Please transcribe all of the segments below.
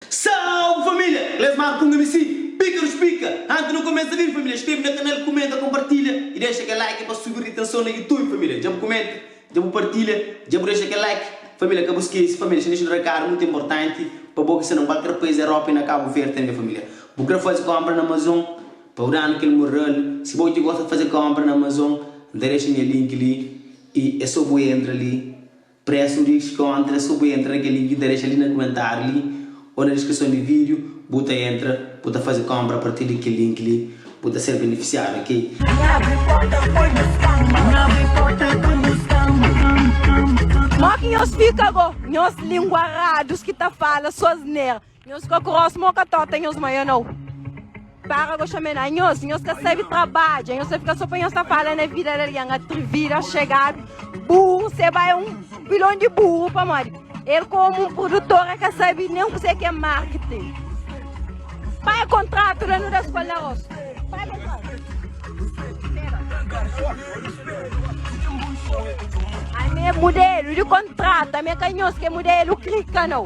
Salve família! Clesmar ku un mc Píkaru Spika Anti nu kumesa vídiu família Inskrebe na kanal Kumenta Konpartilha i dexa kel like pa subi ritenson na Youtube família Dja bu kumenta Dja bu partilha Dja bu dexa kel like família Ka bu skese família Xin dexa un rekadu mutu inportanti Pa bo ki sta na kualker pais Europa i na Kabu Verde tanbe família Bu kre faze konpra na Amazon Pa bu danu kel mural. Si boi ti gosta faze konpra na Amazon N ta dexa nha link li i é so boi entra li Presu di skontra é so boi entra na kel link ki N ta dexa li na kumentariu li o na diskrison di video bu ta entra bu ta faze konpra apartir di kel link li bu ta ser benefisiadu ok. N abri porta pa nhos kanba. N abri porta pa nhos kanba. Mo ki nhos fika bo. Nhos lingua radus ki ta fala so asnera. Nhos ka kros mo ka tota nhos manha nau para go chame na nhos nhos ka sabe trabadja nhos ta fika so pa nhos ta fala na vida de alguém atrevida chegado burro se vai um pilão de burro pa modi ele como um produtor é ka sabe nem que que é marketing pai contrato lá no da escola na roça pai contrato a minha modelo de contrato a minha canhos que modelo clica não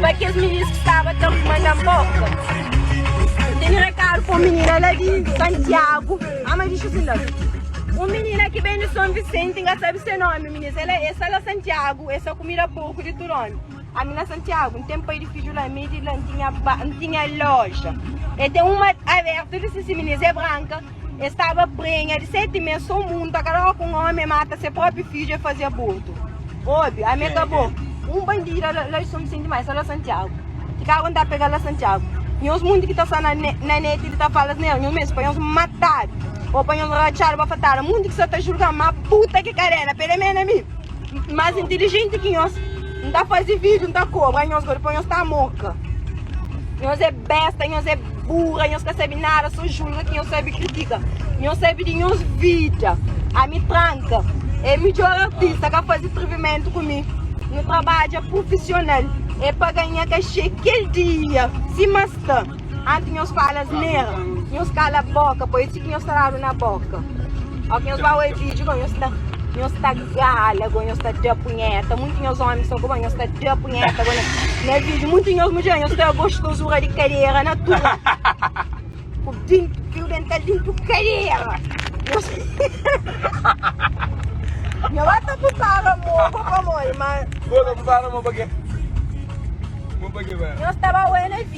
Pa kes minis ki staba ta ruma na Moka N tene rekadu pa un minina la di Santiagu Ama di dixi asin la Un minina ki ben di Son Visenti N ka sabe se nomi minis El e sa la Santiagu E sa kumida porku di tudu omi Ami na Santiagu N ten pai di fiju la Mi di la N tinha ba N tinha loja E ten un ma abertu N disi si minis e branka el staba prenha di seti mes, sô munta, kada óra ki un ómi mata se própi fidju, el faze abortu. Obi, ami é kabo. Un bandida la, la di son senti mai, sa la Santiago. Ki karu N ta pega la Santiago. Nhos munti ki ta sta na ne, na neti di ta fala asnera, nhos meste pa nhos matadu, ô pa nhos ratxadu pa fatada. Munti ki sa ta julga-m ma puta ki kadena, pele mena mi. Mas inteligente ki nhos N ta fazi vídeo, N ta kobra nhos gori pa nhos ta moka Nhos é besta, nhos é burra, nhos ka sabe nada Sô julga ki nhos sabe kritika Nhos sabe di nhos vida Ami tranka é midjor artista Ka fazi skrivimentu ku mi Nu trabadja prufisional É pa ganha kaxê kel dia Sima sta. Antis nhos fala asnera, nhos kala boka, poi ti ki nhos ta dadu na boka. Ok, nhos ba oi video goi nhos ta nhos ta gala goi nhos ta da punheta, muitu nhos omi sta ku ba nhos ta da punheta goi na video, muitu nhos mudjer nhos ta gostosura di kadera na tua ku dintu ku dental dintu kadera. Nhos Nhos ba ta pusara mo pa pamodi, ma Bo ta pusara mo pa ke? Mo pa ke ba? nhos ta ba oi na video.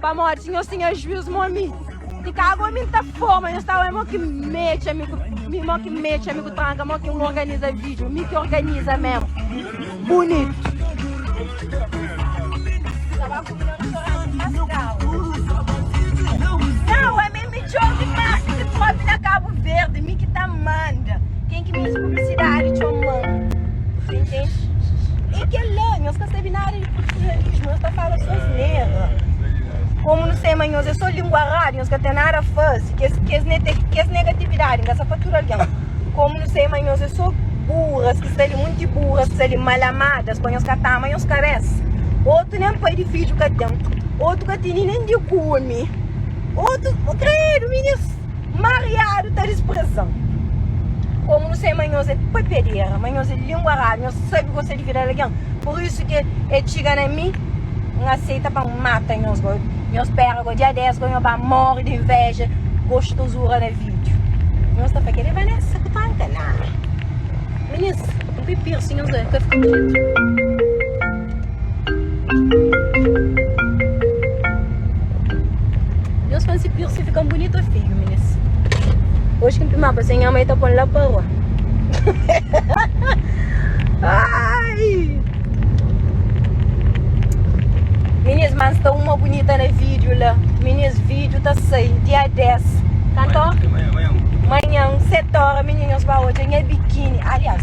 Pamodi si nhos tinha juiz mo ami ti ka ago mi nta forma nhos ta oe mo ki mexe ami ku mi mo ki mexe ami ku tranka mo ki un organiza video mi ki organiza mesmo bonito Midjor di mas ki ki pode na cabo verde mi ki ta manda ken ki meste publicidade txoman ta intende e kel la nhos ka sabe nada di profissionalismo nhos ta fala so asnera como nu sei ma nhos é so lingua rádio nhos ka tem nada a faze kes kes nete kes negatividade nhos sa fatura algen como nu sei ma nhos é so burras ki sta li munti burras ki sta li mal amadas pa nhos ka ta ama nhos kabesa otu nem pai di fidju ka tem otu ka teni nem di kumi. Otu kredu minhas mariadu ta disprezan Komu nu sai ma nhos é pepedera ma nhos é lingua radu nhos sabi gosta di vida di algen pur isu ki e txiga na mi N aseita pa N mata nhos gó Nhos spera gó dia 10 gó nhos ba móre di invéja gostuzura na vídiu Nhos ta fla kel é Vanessa ku tranka? Nah Minhas N bai pirsi nhos bai fika krédu. Nhos fla-m si piercing fika-m bunitu o feiu, minis. Oji ki N pimaba se nha mai ta pô-m la pa rua. Ai! Minis, má N sta uma bunita na vídiu la. Minis, vídiu ta sai dia 10. Kantu ora? Manhan, seti ora, minis, nhos ba odja nha bikini. Aliás.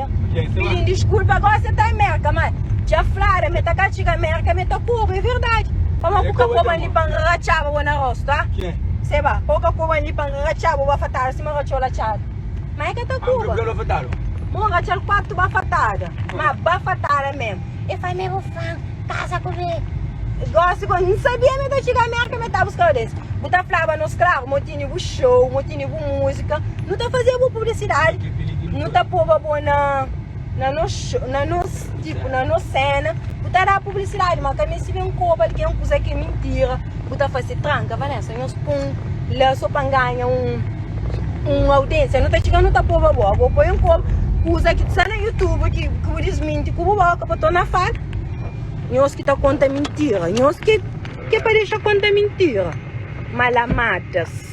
Pidi-m diskulpa, gósi el ta Amérka Má dja flada ma el ta ka txiga Amérka ma el ta kurba, é verdadi Pamó ka bu ka pô-m ali pa N ratxaba bo na róstu, a? Sê ba, pô-m ka pô-m ali pa N ratxaba bo bafatada sima ratxou latxada Má el ka ta kurba, ma N ratxa-l kuatu bafatada Má bafatada mésmu El fla, Mé bu fla-m kaza ku mi Gósi, gósi N sabia ma el ta txiga Amérka ma el ta buska-m Bes bu ta flaba nos skravu, ma bu tene bu xou Tene bu música, nu ta faze bu publicidade, nu ta poba bo na na nos na nos tipo na nos cena, bu ta dá publicidade, ma ka meste ben koba algen kuza ke mintira, bu ta fase tranca Vanessa nhos pun la so pa n'ganha un un audencia, nu ta txiga nu ta poba bo, bo poi un koba kuza ki sta na youtube ki ki bu disminti ku bu boka pa torna fala, nhos ki ta konta mintira, nhos ke ke pa dexa konta mintira, malamátas.